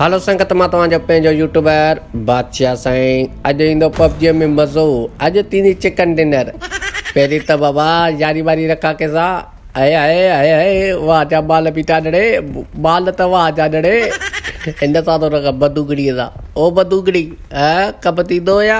هلو سنگت مان توهان جو پنهنجو يوٽيوبر بادشاهه سائين اڄ ايندو پبجي ۾ مزو اڄ ٿيندي چڪن ڊنر پهرين ته بابا ياري واري رکا ڪي سا اي اي اي اي واهه جا بال بيٽا ڏڙي بال ته واهه جا ڏڙي ان سا تو رکا بدوگڙي سا او بدوگڙي ها ڪب ٿيندو يا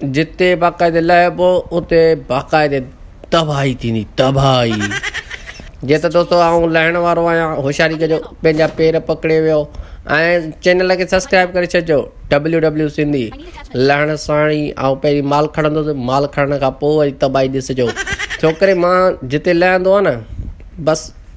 جتي باقاعدي لهبو اتي باقاعدي تباهي ٿيندي تباهي جي ته دوستو آئون لهڻ وارو آهيان هوشياري ڪجو پنهنجا پير پڪڙي ويو ۽ چينل کي سبسڪرائب ڪري ڇڏجو ڊبليو ڊبليو سنڌي لهڻ ساڻ ئي آئون پهرين مال کڻندس مال کڻڻ کان پوء وري تباهي ڏسجو ڇوڪري مان جتي لهندو آهي نه بس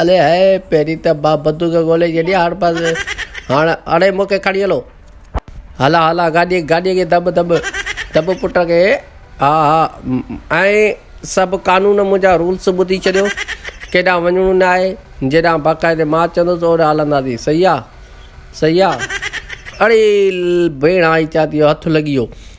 الي هائي پهرين ته مان بندوق ڳولهي جڏي هاڻ بس هاڻ اڙي مون کي کڻي هلو هلا هلا گاڏي گاڏي کي دٻ دٻ دٻ پٽ کي ها ها ۽ سڀ قانون منهنجا رولس ٻڌي ڇڏيو ڪيڏانهن وڃڻو نه آهي جيڏانهن باقاعدي مان چوندس اوڏانهن هلنداسين صحيح آ صحيح آ اڙي ڀيڻ آئين چوان ٿي اهو هٿ لڳي ويو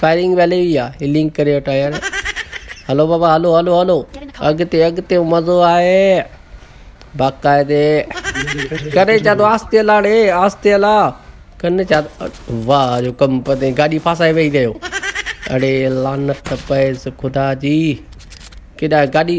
فائرنگ ويلي وي آ هي لنڪ ڪري وٺا يار هلو بابا هلو هلو هلو اڳتي اڳتي مزو آهي باقاعدي ڪري چا تو آستي هلا ڙي آستي هلا ڪن چا واهه جو ڪم پتي گاڏي ڦاسائي ويهي رهيو اڙي لعنت پئس خدا جي ڪيڏا گاڏي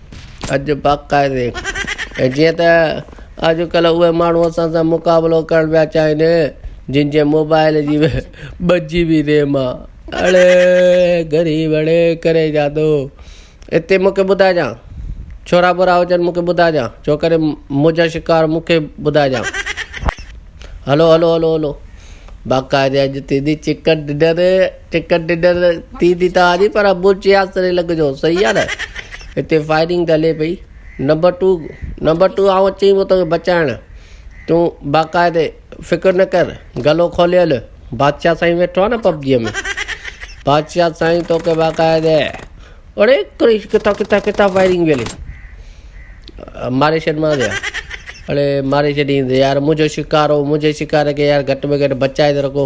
اڄ باقاعدي ۽ جيئن ته اڄڪلهه اهي ماڻهو اسان سان مقابلو ڪرڻ پيا چاهين جن جي موبائل جي ٻه جي بي ريم آ اڙي غريب اڙي ڪري جادو اتي مون کي ٻڌائجان ڇورا ٻورا هجن مون کي ٻڌائجان ڇو ڪري منهنجا شڪار مون کي ٻڌائجان هلو هلو هلو هلو باقاعدي اڄ ٿيندي چڪن ڊنر ٽڪيٽ ڊنر ٿي ٿي ته آجي پر ابو چيا سري لڳ جو صحيح آ نه هتي فائرنگ ته هلي پئي نمبر ٽو نمبر ٽو آئون اچي پيو توکي بچائڻ تون باقاعدي فڪر نه ڪر گلو کولي هل بادشاهه سائين ويٺو آ نه پبجيء ۾ بادشاهه سائين توکي باقاعدي اڙي ڪريش ڪٿان ڪٿان ڪٿان فائرنگ پي هلي ماري ڇڏ مان ويا اڙي ماري ڇڏينس يار منهنجو شڪار هو منهنجي شڪار کي يار گهٽ ۾ گهٽ بچائي ته رکو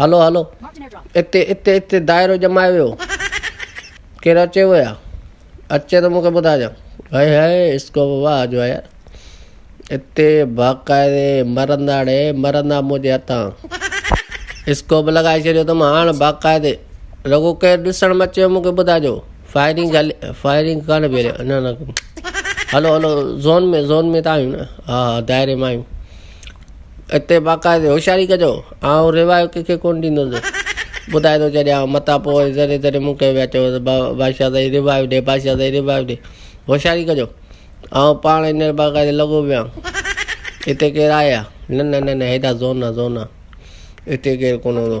هلو هلو اتي اتي اتي دائرو ڄمايو ويو ڪير اچي ويا اچي ته مونکي ٻڌاجان هاي هاي اسڪو ووا آجو آيا اتي باقاعدي مرنداڙي مرندا منهنجي هٿان اسڪو به لڳائي ڇڏيو اٿم هاڻ باقاعدي رڳو ڪير ڏسڻ ۾ اچي مونکي ٻڌاجو فائرنگ هلي فائرنگ ڪانه پيري نه نه هلو هلو زون ۾ زون ۾ ته آهيون نه ها ها دائري مان آهيون اتي باقاعدي هوشياري ڪجو آئون روايو ڪنهن کي ڪونه ڏيندس ٻڌائي ٿو ڇڏيان متان پوء وري ذري ذري مون کي پيا چئو ته با بادشاهه سائين روايو ڏي بادشاهه سائين روايو ڏي هوشياري ڪجو آئون پاڻ هينئر باقاعدي لڳو پيو آهيان هتي ڪير آهي يا نه نه نه نه هيڏا زور نه زور نه هتي ڪير ڪونه هوندو